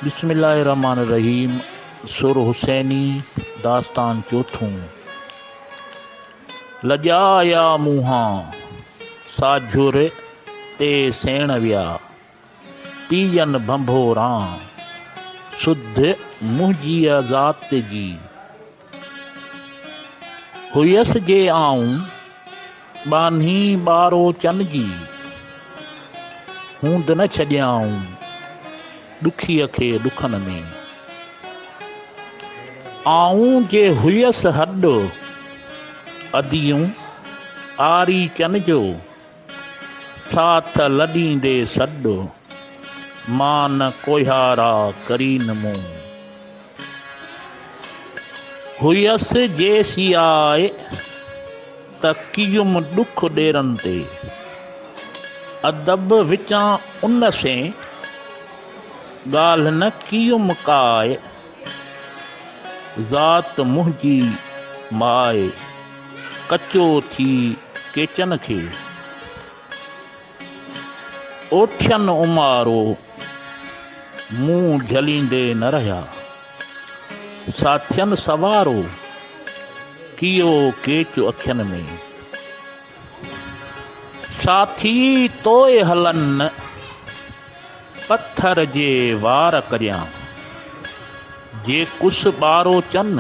بسم الله الرحمٰن الرحيم سر حسيني داستان چوٿون لڄا آيا منهان سا جهر تي سيڻ ويا پيئن ڀنڀوران سڌ منهنجيء ذات جي هئس جي آئون ٻانهي ٻارو چن جي، هوند نه ڇڏيائون ڏکيء کي ڏکن ۾. آئون جي هئس هڏ اديون آري چن جو. سا ته لڏيندي سڏ، مان نه ڪوهيارا ڪرين مون. هئس جيسياء ته ڪيم ڏک ڏيرن تي. ادب وچان ان سين، ڳالهه نه ڪيم ڪاء. ذات منهنجي ماء ڪچو ٿي ڪيچن کي اوٺين امارو مون جهليندي نه رهيا ساٿين سوارو ڪيو ڪيچ اکين ۾ ساٿي توء هلن پٿر جي وار ڪريان، جي ڪس ٻارو چن،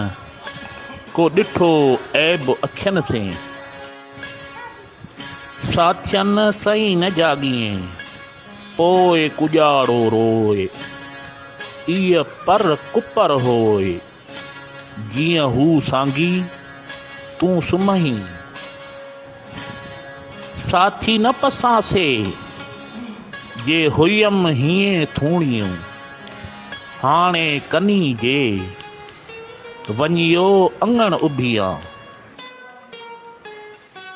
ڪو ڏٺو عيب اکين سين. ساٿين سئي نه جاڳين، پوء ڪڄاڙو روء، ايء پر ڪپر هوء. جيئن هو سانگي تون سمهين. ساٿي نه پساسي جي هئيم هيئين ٿوڻيون. هاڻي ڪني جي وڃيو اڱڻ اڀيان.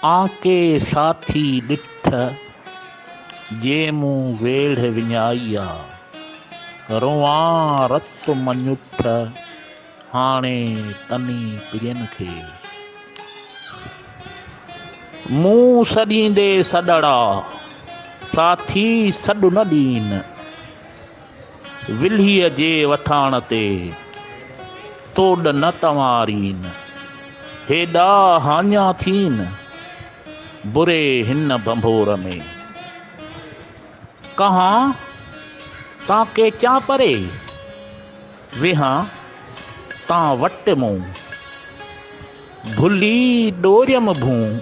آ ڪي ساٿي ڏٺ، جي مون ويڙهه وڃائي آ. روئان رت مڃوٺ، هاڻي تني پرين کي. مون سڏيندي سڏڙا، ساٿي سڏ نه ڏين. ولهيء جي وٿاڻ تي توڏ نه تنوارين، هيڏا هاڃا ٿين بري هن ڀنڀور ۾. ڪهان تان ڪيچان پري، ويهان تان وٽ مون. ڀلي ڏوريم ڀون.